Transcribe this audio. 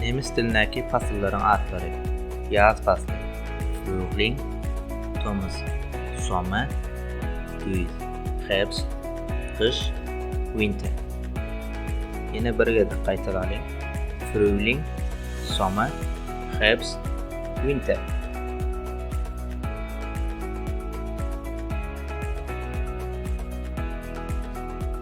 Nemes dilindäki pasyllaryň atlary, Ýaz pasly, Frühling, tomus, Sommer, güýz, Herbst, gyş, Winter. Ýene bir gezek gaýtalalyň, Frühling, Sommer, Herbst, Winter.